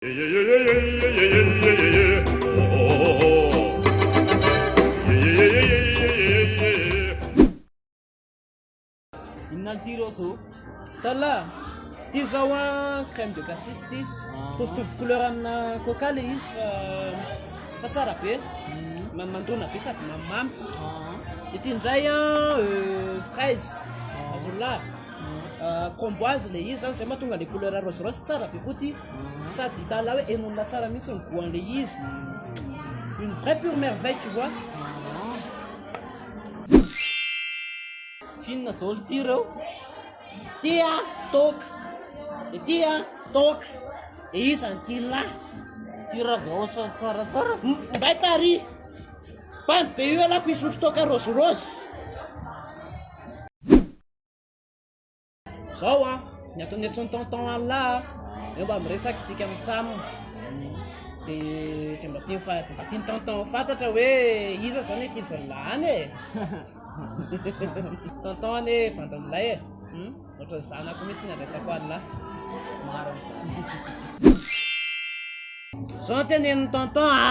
Inona ity Roso? Tala, ity zao a crème de cassis ity. Ah. Tovitovy couleur amina coca le izy fa fa tsara be. Mm. Mamandona be sady mamimamy. Ah. Ity indray a euh, fraise, ah. azonla. Mm. Euh, framboise le izy zany zay mahatonga le couleur rose rose tsara be koa ity. Sady hitanao hoe enona tsara mihitsy ny goan'ilay izy. Une vraie pure merveille, tu vois. Finina zao ity reo. Tia, toka. Dia tia, toka. Dia izany tia lahy. Tia ragao tsara tsara. Mbay tari. Bambi be io alako isotro toka rose rose. Zao a, ny ataon'ny antson'ny tonton Allah a, eo mba miresaka tsika mitsam, de de mba tiany fa de mba tiany tonton ho fantatra hoe iza zao ny ankizy lany e! tonton anie bandy milay e! hum, ohatran'ny zanako mihintsy ny andraisako Allah. Marina izany. Zao ny tenenin'i tonton a.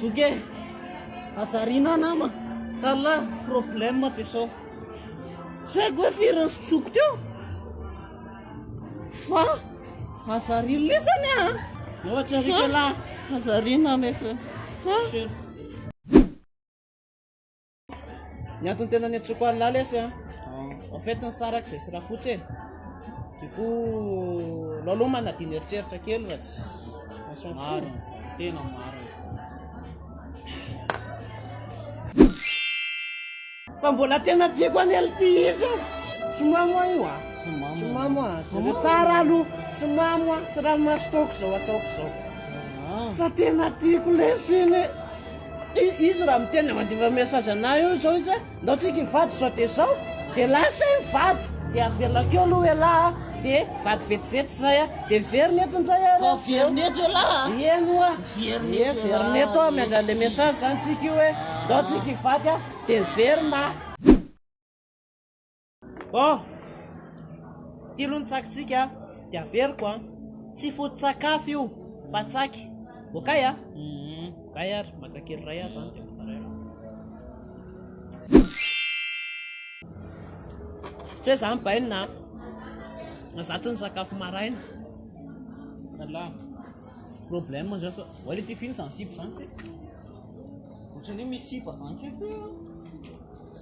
Zoky e! Hazarina nama! Tala problème de sao. Tsy haiko hoe firy ny sotroko teo fa hazarina lesany a! Ohatra rika lahy! Hazarina lesany! Ny antony tena niantsoako an'i Laly lesy an, en fait ny sary aky izay sy Rafotsy e, du coup alao aloha manadino eritreritra kely fa tsy on s'en fout. Marina izany, tena marina izany. Fa mbola tena tiako an'i LT izy e. Tsy mamo aho io an. Tsy mamo. Tsy mamo an. Jereo tsara aloha. Tsy mamo an. Tsy ranomaso taoko izao ataoko izao. Ah. Fa tena tiako lesy iny e. Izy raha miteny dia mandefa message anah eo izao izy hoe ndao tsika hivady izao dia izao dia lasa izy mivady dia avelako eo aloha elah a, dia vady vetivety izay a, dia miverina eto indray ary a, miverina eto elah a, eny hoa, ie miverina eto hoa miandry an'ilay message izany tsika io hoe ndao tsika hivady a, dia miverina a. Bon! Ity aloha ny tsakitsika dia averiko an! Tsy foto-tsakafo io fa tsaky! Okay an! Okay ary, maka kely iray aho izany dia manararaotra hoe izany bainina an! Izaho tsy nisakafo maraina! Anla! Problème izao fa oa ilay tifiny izany sipa izany kay! Ohatran'ny hoe misy sipa izany kay!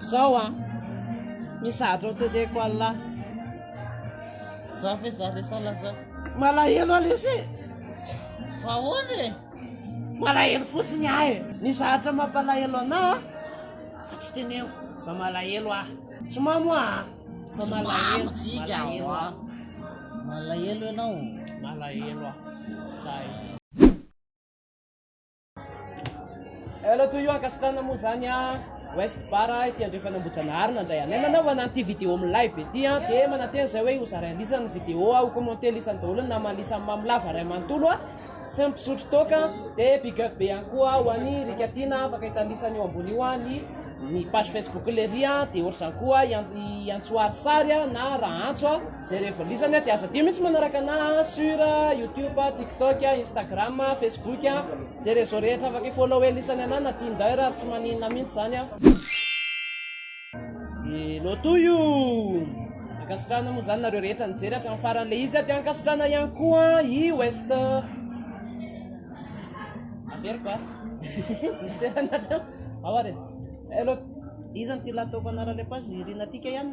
Zao an! Mizatra ao teteko Allah. Za ve za lesy Allah za. Malahelo ah lesy e! Fa ahoana e? Malahelo fotsiny ahy e! Ny zatra mampalahelo anah ah, fa tsy teneniko fa malahelo ahy. Tsy mamo aho ah, fa malahelo, malahelo aho. Malahelo ianao? Malahelo aho. Zay. Hello to you ankasitrana moa zany a West Bar ity andrefana Ambohijanahary nandray anay nanaovana an'ity vidéo milay be ity a dia manantena izay hoe hozaraina lisany ny vidéo a ho commenter lisany daholo ny namany lisany Mamilava iray manontolo a sy ny mpisotro toaka dia big up be ihany koa ho an'i Rika Tiana afaka hita ny lisany eo ambony io a ny ny page Facebook Lery a dia ohatr'izany koa i An- i Antsoary Sary a na Rahantso a Zay rehefa lisany a, de aza adio mihitsy manaraka anah a, sur youtube, tiktok, instagram, facebook, zay reseau rehetra afaka i-follower lisany anah na tinder ary tsy maninona mihitsy zany a. I Loto io! Ankasitrahana moa zany nareo rehetra nijery hatramin'ny farany le izy a, de ankasitrahana ihany koa i west averiko a, diso toerana teo, ao ary e, eh Loto. Iza no ty lato ko anara le page? Irina Tika ihany?